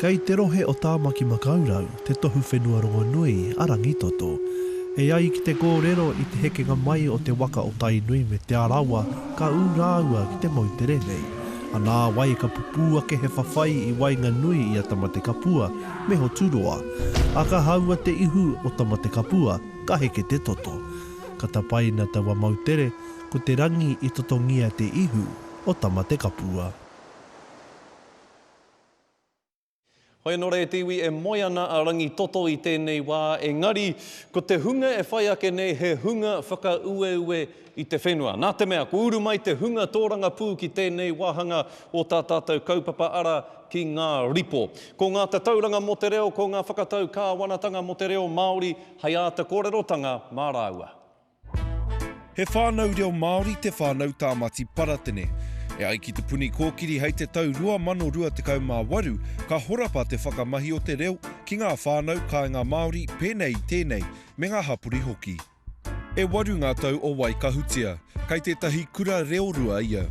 Kei te rohe o Tāmaki Makaurau te tohu whenua rongonui a Rangitoto. E ai ki te kōrero i te hekenga mai o te waka o Tainui me Te Arawa ka ū rāua ki te moutere nei. A nāwai ka pupū ake he whawhai i waenganui i a Tamatekapua me Hoturoa, a ka haua te ihu o Tamatekapua, ka heke te toto. Ka tapaina taua moutere, ko te rangi i totongia te ihu o Tamatekapua. Hoi anō rā e te iwi e moe ana a Rangitoto i tēnei wā, engari ko te hunga e whai ake nei he hunga whakaueue i te whenua. Nā te mea, kua uru mai te hunga tōrangapū ki tēnei wāhanga o tā tātou kaupapa ara ki ngā ripo. Ko ngā tatauranga mō te reo, ko ngā whakatau kāwanatanga mō te reo Māori hei āta kōrerotanga mā rāua. He whānau reo Māori te whānau Tāmati Paratene. E ai ki Te Puni Kōkiri hei te tau 2028 ka horapa te whakamahi o te reo ki ngā whānau kāinga Māori pēnei i tēnei me ngā hapori hoki. E waru ngā tau o Waikahutia, kei tētahi kura reorua ia.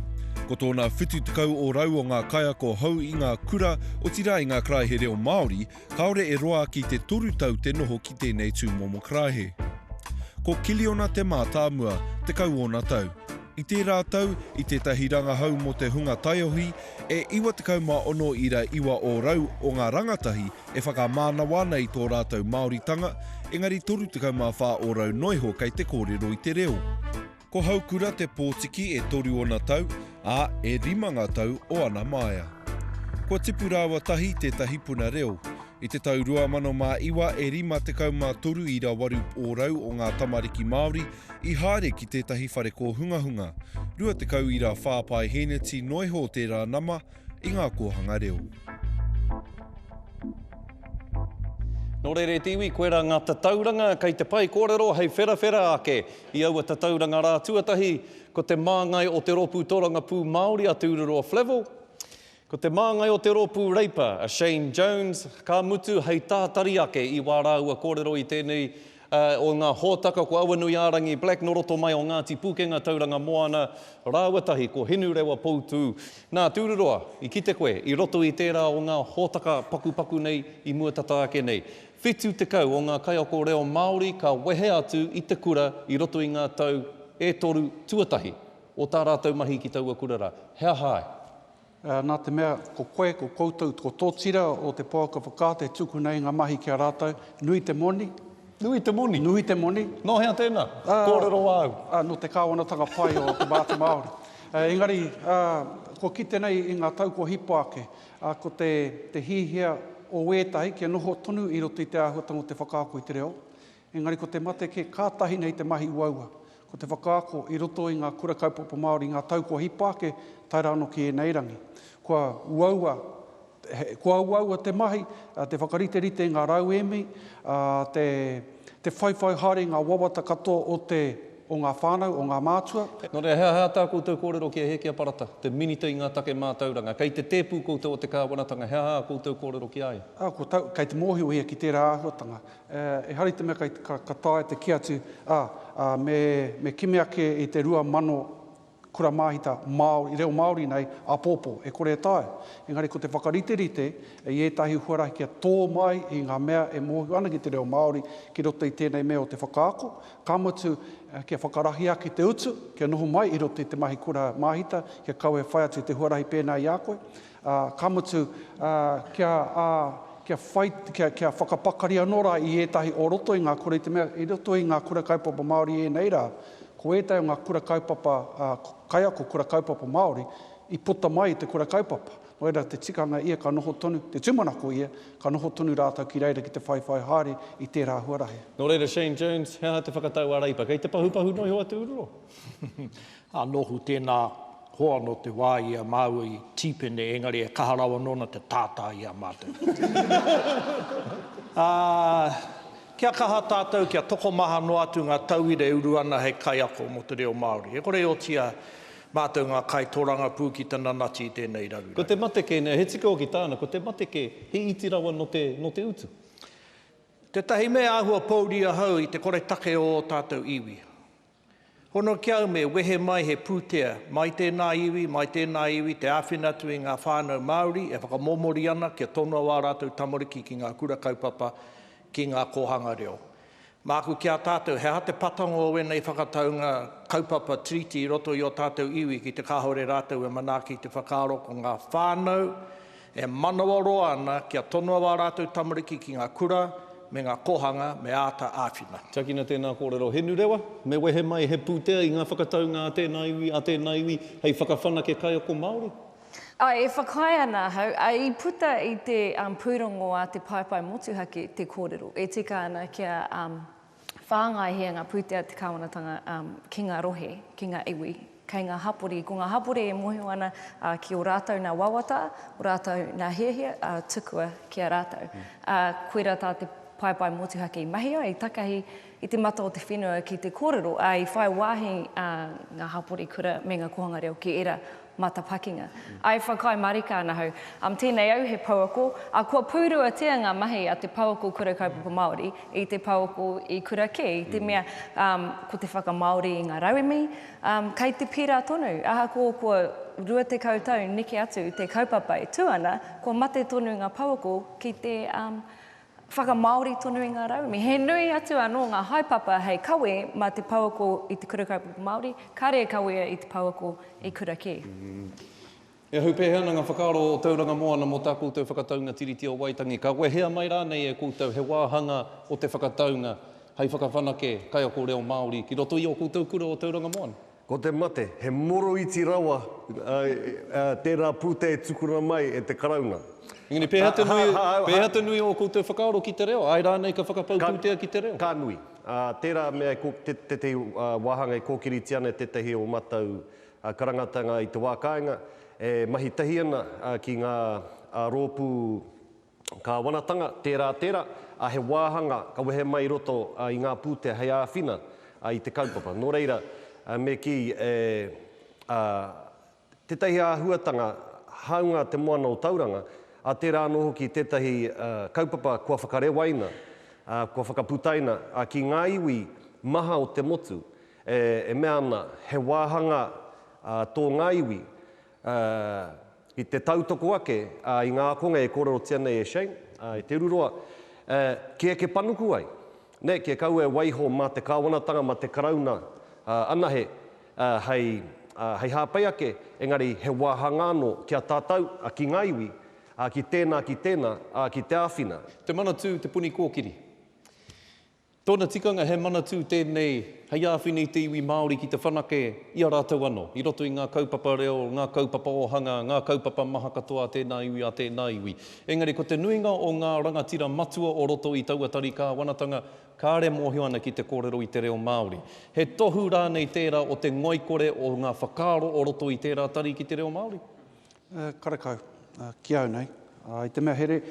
Ko tōna 70 ōrau o ngā kaiako hou i ngā kura, otirā i ngā karaehe reo Māori, Kāore e roa ki te toru tau te noho ki tēnei tūmomo karaehe. Ko Kiliona te mātāmua, tekau ōna tau. I tērā tau, i tētahi rangahau mō te hunga taiohi, e 96 ira iwa ōrau o ngā rangatahi e whakamānawa ana i tō rātou Māoritanga, engari 34 ōrau noiho kei te kōrero i te reo. Ko Haukura te pōtiki e toru ona tau, ā, e rima ngā tau o ana māia. Kua tipu rāua tahi tētahi puna reo. I te tau 2009 e 53 i rawaru ōrau o ngā tamariki Māori i haere ki tētahi whare kōhungahunga, 20 i rā whā paehēneti noa iho tērā nama i ngā kōhanga reo. Nō reira e te iwi, koirā ngā tatauranga kei te whai kōrero hei wherawhera ake I aua tatauranga rā tuatahi, ko te māngai o te rōpū tōrangapū Māori a Te Ururoa Flavell, ko te māngai o te rōpū Reipa a Shane Jones, ka mutu hei tātari ake i wā rāua kōrero i tēnei o ngā hōtaka ko Awanuiārangi Black nō roto mai o Ngāti Pūkenga Tauranga Moana rāua tahi ko Hinurewa Poutū. Nā, Te Ururoa, i kite koe i roto i tērā o ngā hōtaka pakupaku nei i mua tata ake nei, Whitu tekau o ngā kaiako reo Māori ka wehe atu i te kura i roto i ngā tau e toru tuatahi o tā rātou mahi ki taua kura rā. He aha ai? Nā te mea, ko koe, ko koutou, ko tō tira o te pouaka whakaata e tukuna i ngā mahi ki a rātou, nui te moni. Nui te moni? Nui te moni. Nō hea tēnā? Kōrero āu. Nō te kāwanatanga pai o te Māori. Engari, kua kite nei i ngā tau kua hipa ake, ā, ko te hiahia o ētahi kia noho tonu i roto i te āhuatanga o te whakaako i te reo, engari ko te mate kē kātahi nei te mahi uaua, ko te whakaako i roto i ngā kura kaupapa Māori i ngā tau kua hipa ake tae rā anō ki ēnei rangi. Kua uaua, kua uaua te mahi, te whakariterite i ngā rauemi, ā, te whaiwhai haere i ngā wawata katoa o te. o ngā whānau, o ngā mātua. Nō reira, he aha tā koutou kōrero ki a Hēkia Parata, te Minita i ngā Take Mātauranga? Kei te tēpu koutou o te Kāwanatanga, he aha ā koutou kōrero ki a ia? Kei te mōhiohia ki tērā āhuatanga. Ehara i te mea ka taea te kī atu, ā, me kimi ake i te 2000 kura māhita Māori, reo Māori nei, āpōpō, e kore e taea. Engari ko te whakariterite i ētahi huarahi kia tō mai i ngā mea e mōhio ana ki te reo Māori ki roto i tēnei mea o te whakaako, ka mutu, kia whakarahi ake te utu, kia noho mai i roto i te mahi kura māhita, kia kaua e whai atu i te huarahi pēnā i a koe. Ā, ka mutu, ā, kia, ā, kia whai, kia, kia whakapakari anō rā i ētahi o roto i ngā kura, i te mea, i roto i ngā kura kaupapa Māori ēnei rā, ko ētahi o ngā kura kaupapa, ā, kaiako kura kaupapa Māori, i puta mai i te kura kaupapa. Nō reira, te tikanga ia ka noho tonu, te tūmanako ia, ka noho tonu rātou ki reira ki te whaiwhai haere i tērā huarahi. Nō reira, Shane Jones, he aha te whakatau a Reipa? Kei te pahupahu noa iho atu uru? Ā, nōku tēnā hoa nō te wā i a māua i tīpene, engari e kaha rawa nōna te tātā i a mātou. Ā, kia kaha tātou kia tokomaha noa atu ngā tauira e uru ana hei kaiako mō te reo Māori. E kore e otia mātou ngā kaitōrangapū ki te nanati i tēnei raruraru. Ko te mate kē nei, he tika hoki tāna, ko te mate kē, he iti rawa nō te, nō te utu. Tētahi mea āhua pōuri ahau i te koretake o ō tātou iwi. Hono ki au me wehe mai he pūtea, mai tēnā iwi, mai tēnā iwi, te āwhina atu i ngā whānau Māori e whakamomori ana kia tonoa ā rātou tamariki ki ngā kura kaupapa, ki ngā kōhanga reo. Māku ki a tātou, he aha te patango o ēnei whakataunga kaupapa tiriti i roto i ō tātou iwi ki te kāore rātou e manaaki i te whakaaro ko ngā whānau, E manawaroa ana kia tonoa wā rātou tamariki ki ngā kura me ngā kōhanga me āta āwhina. Tiakina tēnā kōrero Henurewa, me wehe mai he pūtea i ngā whakataunga a tēnā iwi, a tēnā iwi hei whakawhanake kaiako Māori. Āe, e whakaae ana ahau, ā, i puta i te pūrongo a te paepae motuhake te kōrero e tika ana kia. whāngai hē ngā pūtea te Kāwanatanga ki ngā rohe, ki ngā iwi, kei ngā hapori. Ko ngā hapori e mōhio ana ki ō rātou nā wawata, ō rātou nā hiahia tukua ki a rātou. Koirā tā te paepae motuhake i mahia, i takahi i te mata o te whenua ki te kōrero, ā, i whai wāhi ngā hapori kura me ngā kōhanga reo ki ērā matapakinga. I whakaae marika ana hau, um, tēnei au he pouako, a kua pūruatia ngā mahi a te pouako Kura Kaupapa Māori i te pouako i kura kē, i te mea, um, ko te whakamāori i ngā rauemi, um, kei te pērā tonu, ahakoa kua 20 tau neke atu te kaupapa e tū ana, kua mate tonu ngā pouako ki te, um, Whakamāori tonu i ngā rauemi. He nui atu anō ngā haepapa hei kawe mā te pouako i te Kura Kaupapa Māori, kāre e kawea i te pouako i kura kē. E ahu pēhea ana ngā whakaaro o Tauranga Moana mō tā koutou whakataunga Tiriti o Waitangi? Ka wehea mai rānei e koutou he wāhanga o te whakataunga hei whakawhanake kaiako reo Māori ki roto i ō koutou kura o Tauranga Moana? Ko te mate, he moroiti rawa tērā pūtea e tukuna mai e te Karauna. Engari, pēhea te nui, pēhea te nui o ō koutou whakaaro ki te reo, āe rānei ka whakapau pūtea ki te reo? Ka nui. Tērā mea e, tētahi wāhanga e kōkiritia ana e tētahi o ō mātou karangatanga i te wā kāinga, e mahi tahi ana ki ngā rōpū Kāwanatanga, tērā, tērā, ā, he wāhanga ka wehe mai i roto i ngā pūtea hei āwhina i te kaupapa. Nō reira, me kī e, ā, tētahi āhuatanga hāunga Te Moana o Tauranga, ā, tērā anō hoki tētahi kaupapa kua whakarewaina, ā, kua whakaputaina ki ngā iwi maha o te motu, e, e mea ana he wāhanga tō ngā iwi, Ā, i te tautoko ake, ā, i ngā ākonga e kōrerotia nei e Shane, ā, e te ururoa, ā, kē eke panuku ai, nē, kē kaua e waiho mā te Kāwanatanga, mā te Karauna, ā, anahe, ā, hei, ā, hei hāpai ake, engari he wāhanga anō ki a tātou, ā, ki ngā iwi, ā, ki tēnā, ki tēnā, ā, ki te āwhina. Te Manatū, Te Puni Kōkiri. Tōna tikanga he manatū tēnei hei āwhina i te iwi Māori ki te whanake i a rātou anō, i roto i ngā kaupapa reo, ngā kaupapa ōhanga, ngā kaupapa maha katoa a tēnā iwi, a tēnā iwi. Engari ko te nuinga o ngā rangatira matua o roto i taua tari kāwanatanga, kāre mōhio ana ki te kōrero i te reo Māori. He tohu rānei tērā o te ngoikore o ngā whakaaro o roto i tērā tari ki te reo Māori? Karekau. Ki au nei, i te mea here,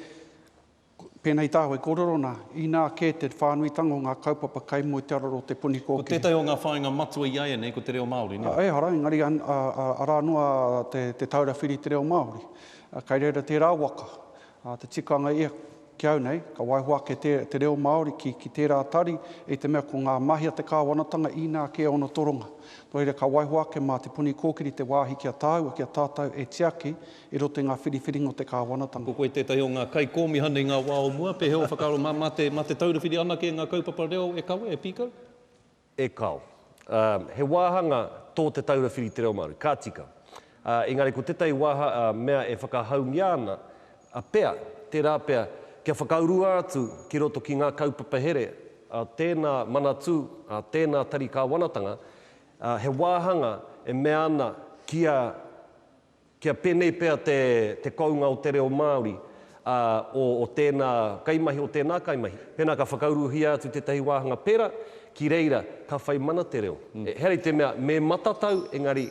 Pēnei i tāu e kōrero ana, inā kē te whānuitanga o ngā kaupapa kai mua i te araro o Te Puni Kōkiri. Ko tētahi o ngā whāinga matua i a ia nei ko te reo Māori, nē? Ehara, engari arā noa te taura whiri i te reo Māori. Kai reira tērā waka, te tikanga ia ki au nei, ka waiho ake te reo Māori ki tērā tari, i te mea ko ngā mahi a te kāwanatanga inā kē ōna toronga. Nō reira, ka waiho ake mā Te Puni Kōkiri te wāhi ki a tāua, ki a tātou e tiaki I roto i ngā whiriwhiringa o te kāwanatanga. Ko koe tētahi o ngā kaikōmihana i ngā wā o mua, pēhea ō whakaaro mā, mā te, mā te taurawhiri anake i ngā kaupapa reo e kawe, e pīkau? E kao. Ā, he wāhanga tō te taurawhiri i te reo Māori, ka tika. Ā, engari ko tētahi wāha, ā, mea e whakahaungia ana, ā, pea, tērā pea, kia whakaurua atu ki roto ki ngā kaupapa here a tēnā manatū, a tēnā tari kāwanatanga, ā, he wāhanga e mea ana kia. Kia pēnei pea te te kounga o te reo Māori, ā, o o tēnā kaimahi, o tēnā kaimahi. Pēnā ka whakauruhia atu tētahi wāhanga pērā, ki reira ka whai mana te reo. He ari te mea me matatau, engari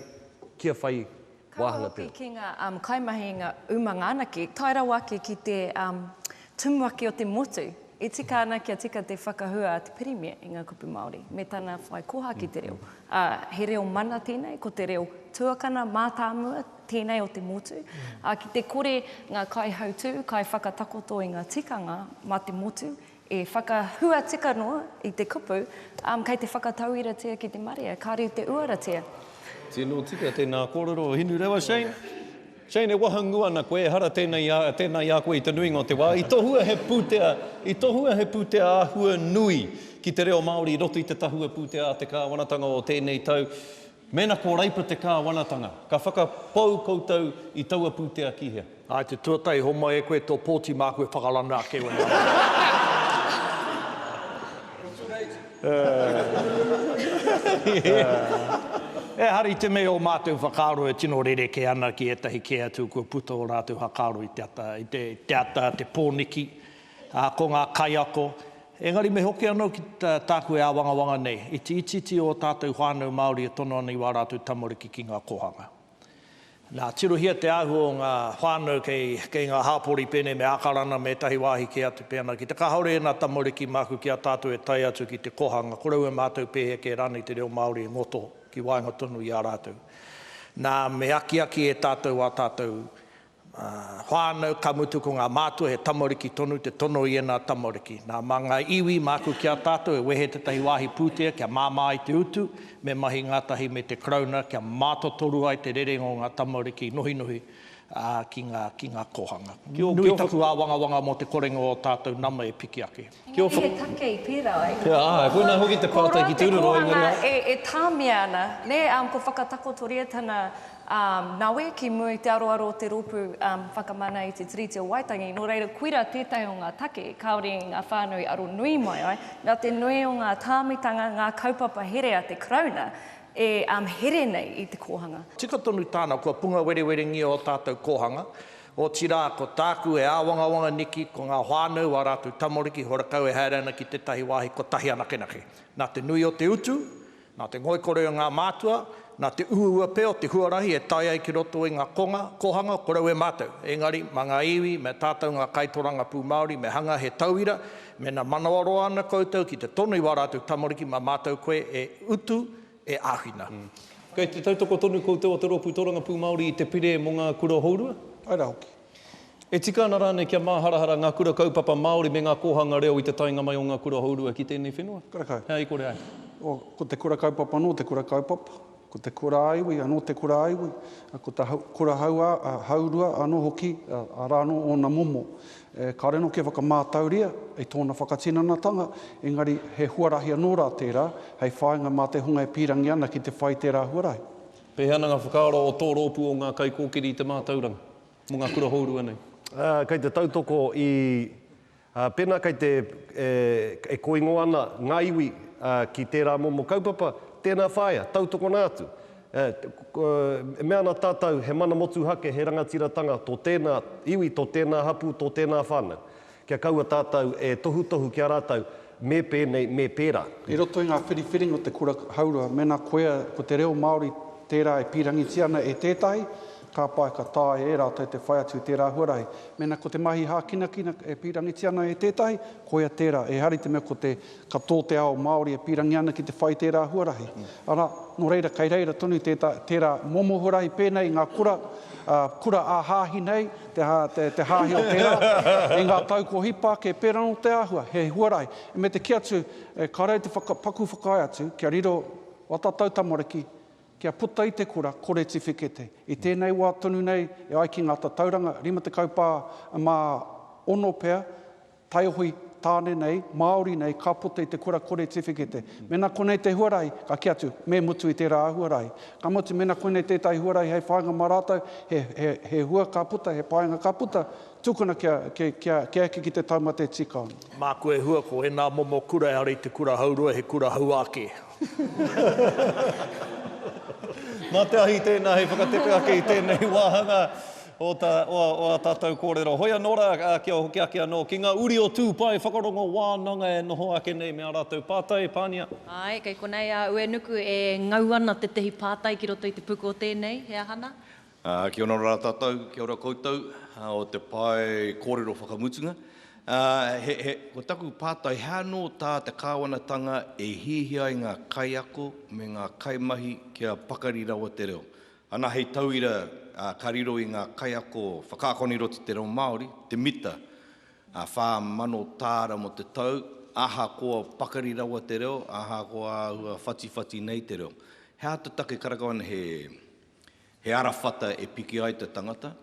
kia whai wāhanga te reo. Kaha hoki ki ngā kaimahi i ngā umanga anake, tae rawa ake ki te Tumuaki o te motu, e tika ana kia tika te whakahua a te Pirimia i ngā kupu Māori me tana whai koha ki te reo, ā, he reo mana tēnei, ko te reo tuakana mātāmua tēnei o te motu, ā, ki te kore ngā kaihautū, kaiwhakatakoto i ngā tikanga mā te motu e whakahua tika noa i te kupu, ā, kei te whakatauiratia ki te marea, kāre i te uaratia. Tino tika tēnā kōrero Hinurewa Shane. Jane, e wahangū ana koe, ehara tēnei i a, tēnā i a koe i te nuinga o te wā. I tohua he pūtea, i tohua he pūtea āhua nui ki te reo Māori i roto i te tahua pūtea a te Kāwanatanga o tēnei tau. Mēnā ko Reipa te Kāwanatanga, ka whakapau koutou i taua pūtea ki hea? Āe, te tuatahi homai e koe tō pōti māku e whakarana ake i ōna rā. Ehara i te mea o mātou whakaaro e tino rerekē ana ki ētahi kē atu kua puta ō rātou whakaaro i te ata, i te, te ata, te pōniki, ā, ko ngā kaiako. Engari me hoki anō ki tā, tāku e āwangawanga nei, iti itiiti ō tātou whānau Māori e tono ana i wā rātou tamariki ki ngā kōhanga. Nā, tirohia te āhua o ngā whānau kei, kei ngā hāpori pēnei me Ākarana me ētahi wāhi kē atu pēnā ki te kāore ēnā tamariki māku ki a tātou e tae atu ki te kōhanga korou e mātau pēhea kē rānei te reo Māori e ngoto ki waenga tonu i a rātou. Nā, me akiaki e tātou ā tātou whānau, ka mutu ko ngā mātua he tamariki tonu te tono i ēnā tamariki. Nā, mā ngā iwi, māku ki a tātou e wehe tētahi wāhi pūtea kia māmā ai te utu, me mahi ngātahi me te Karauna kia mātotoru ai te rerenga o ngā tamariki i nohinohi ki ngā kōhanga. Nui taku āwangawanga mō te korenga o ō tātou nama e piki ake. Engari he take i pērā ai. He aha, koinā hoki te pātai ki Tūroro, engari. Ko rā te kōhanga e tāmia ana, nē, ko whakatakotoria tana nawe ki mua i te aroaro o te rōpū whakamana i te Tiriti o Waitangi, nō reira koirā tētahi o ngā take kāore i ngā whānau aro nui mai ai, nā te nui o ngā tāmitanga, ngā kaupapa here a te Karauna e here nei i te kōhanga. Tika tonu tāna, kua punga werewerengia ō tātou kōhanga. Otirā, ko tāku e āwangawanga niki ko ngā whānau, ā rātou tamariki, horakau e haere ana ki tētahi wāhi kotahi anakenake. Nā te nui o te utu, nā te ngoikore o ngā mātua, nā te uaua pea o te huarahi e tae ai ki roto i ngā konga, kōhanga, korau e mātou. Engari, mā ngā iwi, mā tātou ngā kaitorangapū Māori me hanga he tauira, mēnā manawaroa ana koutou ki te tono i wā rātou tamariki mā mātou koe e utu, e āwhina. Kei te tautoko tonu koutou o te Rōpū Tōrangapū Māori i te Pire mō ngā Kura Hourua? Pai rā hoki. E tika ana rānei kia māharahara ngā Kura Kaupapa Māori me ngā kōhanga reo i te taenga mai o ngā Kura Hourua ki tēnei whenua? Karakau. Hei, kore ai. Oh, ko te Kura Kaupapa anō te Kura Kaupapa, ko te Kura a Iwi anō te Kura a Iwi, ko te Kura Hourua anō hoki, arā anō ōna momo. Kāore anō kia whakamātauria i tōna whakatinanatanga, engari he huarahi anō rā tērā hei whāinga mā te hunga e pīrangi ana ki te whai tērā huarahi. Pēhea ana ngā whakaaro o tō rōpū o ngā kaikōkiri i te mātauranga mō ngā kura hourua nei? Kei te tautoko i, pēnā kei te, e kōingo ana ngā iwi ki tērā momo kaupapa, tēnā whāia, tautokona atu. E mea ana tātou, he mana motuhake, he rangatiratanga tō tēnā iwi, tō tēnā hapū, tō tēnā whānau. Kia kaua tātou e tohutohu ki a rātou, me pēnei, me pērā. I roto i ngā whiriwhiringa o te kura haurua, mēnā koia ko te reo Māori tērā e pīrangitia ana e tētahi, ka pai ka taea e rātou te whai atu i tērā huarahi. Mēnā ko te mahi hākinakina e pīrangitia ana e tētahi, koia tērā. Ehara i te mea ko te Ka tō te ao Māori e pīrangi ana ki te whai tērā huarahi, arā, nō reira kei reira tonu tētā, tērā momo huarahi pēnei i ngā kura, ā, kura ā-hāhi nei, te, te, te hāhi o tērā, i ngā tau kua hipa ake, pērā nō te āhua, he huarahi. Me te kī atu, e, kāre au te whaka, paku whakaae atu, kia riro ō tātou tamariki, kia puta i te kura, kore tiwhikete. I tēnei wā tonu nei, e ai ki ngā tatauranga, 50 pā, mā ono pea, Taihoe, Tāne nei, Māori nei, ka puta i te kura kore tiwhikete. Mēnā konei te huarahi, ka kī atu, me mutu i tērā huarahi. Ka mutu, mēnā koinei tētahi huarahi hei whāinga mā rātou, he, he, he hua ka puta, he painga ka puta, tukuna kia, kia, kia, kia eke ki te taumate tīkaone. Māku e hua ko ēnā momo kura ehara i te kura hauroa, he kura hauā kē. Mā te ahi tēnā hei whakatepe ake i tēnei wāhanga. o ta, o, o a tatou korero. Hoi ano ra, a, kia hoki ake ano ki nga uri o tu pae whakarongo wananga e noho ake nei me a ratou patai, pania. Ae, kei konei a Uenuku e ngau ana tetehi patai ki roto i te puku o tenei, he aha na? A, kia ora ra tatou, kia ora koutou, a, o te pae korero whakamutunga. A, he, he, ko taku patai, he ano ta te kawanatanga e hiahia ai nga kaiako me nga kaimahi kia pakari rawa te reo? Ana hei tauira ka riro i ngā kaiako whakaakona i roto i te reo Māori, te mita, 4,000 tāra mō te tau, ahakoa pakari rawa te reo, ahakoa āhua whatiwhati nei te reo. He āta take karakau ana he arawhata e piki ai te tangata,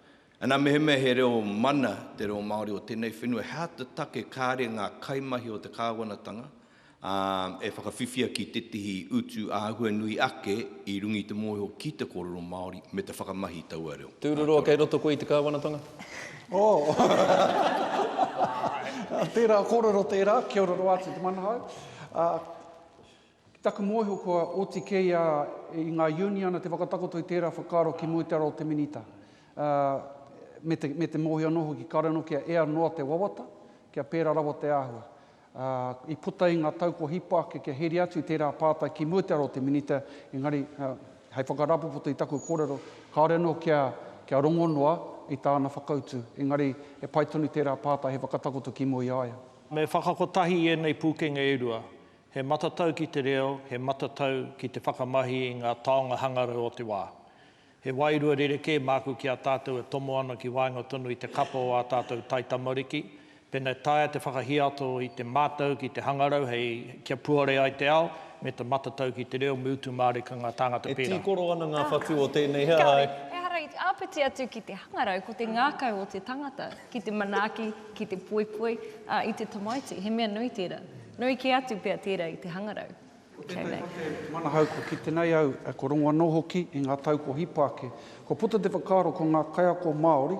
Ana, mehemea he reo mana te reo Māori o tēnei whenua, he aha te take kāre ngā kaimahi o te kāwanatanga e whakawhiwhia ki tētehi utu āhua nui ake i runga i te mōhio ki te kōrero Māori me te whakamahi i taua reo? Tūruroa, kei roto koe i te kāwanatanga? Oh! Tērā kōrero tērā, kia ora noa atu te manahau. Ki taku mōhio kua oti kē ia i ngā uniana te whakatakoto i tērā whakaaro ki mua i te ara o te Minita, ā, me te, me te mōhio anō hoki kāore anō kia ea noa te wawata, kia pērā rawa te āhua. Ā, i puta i ngā tau kua hipa ake kia heria atu i tērā pātai ki mua i te ara o te Minita, engari, ā, hei whakarāpopoto i taku kōrero, kāore anō kia, kia rongo noa i tāna whakautu, engari he pai tonu tērā pātai hei whakatakoto ki mua i a ia. Me whakakotahi i ēnei pūkenga e rua, He matatau ki te reo, he matatau ki te whakamahi i ngā taonga hangarau o te wā. He wairua rerekē māku ki a tātou e tomo ana ki waenga tonu i te kapa o ā tātou taitamariki, pēnā e taea te whakahiato i te mātau ki te hangarau hei kia puare ai te ao, me te matatau ki te reo, me utu mārika ngā tāngata pērā. E tīkoro ana ngā whatu o tēnei hea, āe. Kāore, ehara i te āpiti atu ki te hangarau, ko te ngākau o te tangata ki te manaaki, ki te poipoi, ā, i te tamaiti, he mea nui tērā. Nui kē atu pea tērā i te hangarau. Ko tētahi o te manahau kua kite nei au, kua rongo anō hoki i ngā tau kua hipa ake. Kua puta te whakaaro ko ngā kaiako Māori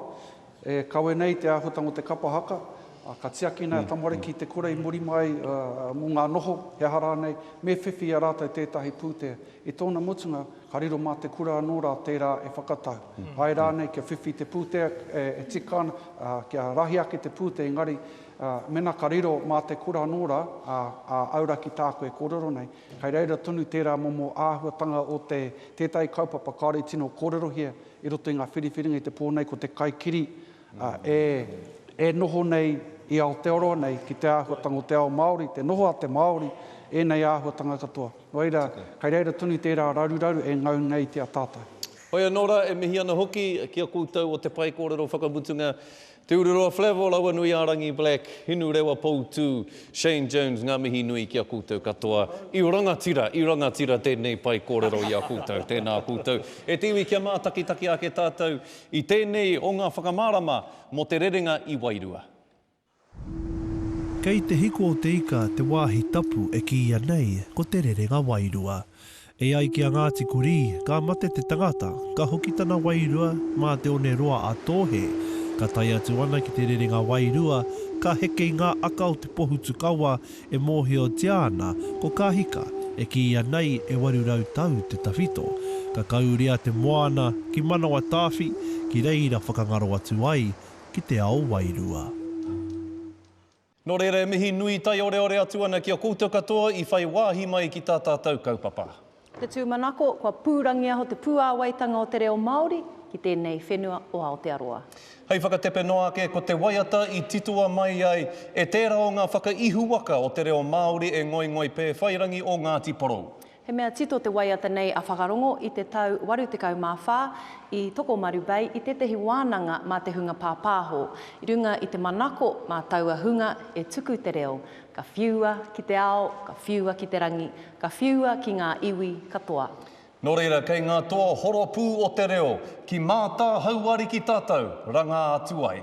e kawe nei i te āhuatanga o te kapa haka, ā, ka tiaki nei a tamariki i te kura i muri mai mō ngā noho, he aha rānei, me whiwhi i a rātou tētahi pūtea. I tōna mutunga, ka riro mā te kura anō rā tērā e whakatau. Āe rānei kia whiwhi i te pūtea e tika ana, kia rahi ake te pūtea engari, Ā, mena ka riro mā te kura anō rā, ā, ā, auraki tāku e kōrero nei, kei reira tonu tērā momo āhuatanga o te, tētahi kaupapa kāore i tino kōrerohia i roto i ngā whiriwhiringa i te pō nei, ko te kaikiri, ā, e, e noho nei i Aotearoa nei ki te āhuatanga o te ao Māori, te noho a te Māori, ēnei āhuatanga katoa. Nō reira, kei reira tonu tērā raruraru e ngau nei ki a tātou. Hoi anō rā, e mihi ana hoki ki a koutou o Te Pae Kōrero Whakamutunga Te Ururoa Flevo, Rauanui-ā-rangi Black, Hinu Rewa Poutū, Shane Jones, ngā mihi nui ki a koutou katoa. I rangatira, i rangatira tēnei pae kōrero i a koutou. Tēnā koutou. E te iwi kia mātakitaki ake tātou i tēnei o ngā whakamārama mō te rerenga i wairua. Kei Te Hiko o te Ika te wāhi tapu e kīia nei ko te rerenga wairua. E ai ki a Ngāti Kurī, ka mate te tangata, ka hoki tana wairua mā te one roa a Tōhe. Ka tae atu ana ki te rerenga wairua, ka heke i ngā aka o te pohutukawa e mōhiotia ana ko Kahika, e kīia nei e 800 tau te tawhito. Ka kauria te moana ki Manawatāwhi ki reira whakangaro atu ai ki te ao wairua. Nō reira e mihi nui taioreore atu ana ki a koutou katoa i whai wāhi mai ki tā tātou kaupapa. Te tūmanako, kua pūrangiaho te puāwaitanga o te reo Māori ki tēnei whenua o Aotearoa. Hei whakatepe noa ake, ko te waiata i titoa mai ai e tērā o ngā whakaihuwaka o te reo Māori e Ngoingoi Pēwhairangi o Ngāti Porou. He mea tito te waiata nei a Whakarongo i te tau 84 i Tokomaru Bay i tētehi wānanga mā te hunga pāpāho, i runga i te manako mā taua hunga e tuku te reo, ka whiua ki te ao, ka whiua ki te rangi, ka whiua ki ngā iwi katoa. Nō reira kei ngā toa horopū o te reo, ki Mātāhauariki tātou, rangā atu ai.